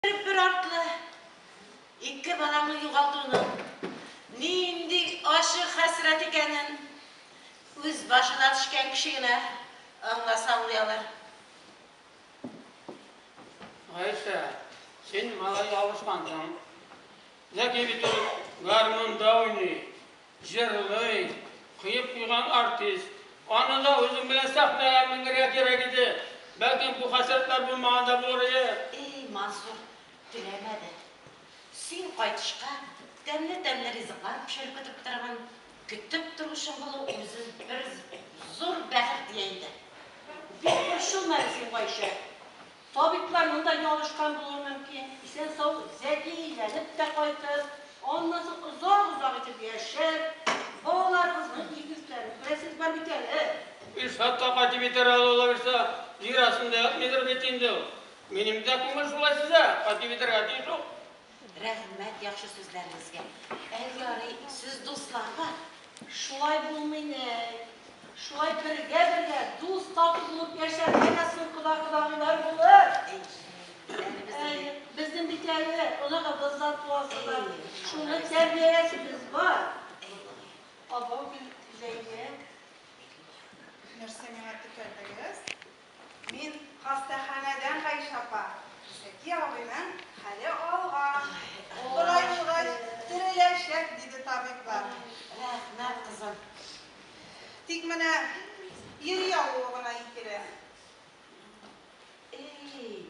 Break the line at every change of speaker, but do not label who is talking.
Бер бер артлы ике балаңны югалтуның нинди ачы хәсрәт икәнен үз башына төшкән кеше генә аңласа аңлый алыр.
Гайшә, син малай ялгышкансың. Зәки бит ул гармунда уйный. Җырлый, коеп куйган артист. Аны да үзең белән сәхнәгә менгерергә кирәк иде. Бәлкем бу хәсрәтләр булмаган да булырые. Эй, Мансур,
теләмә дә. Син кайтышка тәмле-тәмле ризыклар пешереп көтеп торган, көтеп торучың булу үзе бер зур бәхет, дия иде. Бик борчылма әле син, Гайшә. Табиблар монда ялгышкан булуы мөмкин, исән-сау, зәки әйләнеп тә кайтыр, аннан соң озак-озак итеп яшәр, балаларыгызның ир йөкләрен күрәсез бар бит әле. Илшат та
кайтып итәр әле ул, абыйсы, ир астында ятмыйдыр бит инде ул. Минем дә күңел шулай сизә, кайтып итәргә тиеш ул. Рәхмәт
яхшы сүзләрегезгә. Әй ярый, сез дусларга шулай булмыйн әй. Шулай бергә бергә, дус тату булып яшәргә дә соң кода кодагыйлар булыр. Әй, безнең бит әле оныгыбыз да туасы бар. Шуны тәрбияләсебез бар. Абау Гөлзәйнә
нәрсә миңа текәлдегез? Мин хастаханәдән Гайшә апа, Шәки абыйның хәле алган, болай булгач, тереләчәк, диде табиблар. Рәхмәт,
кызым.
Тик менә йөри алуы гына икеле. Эй!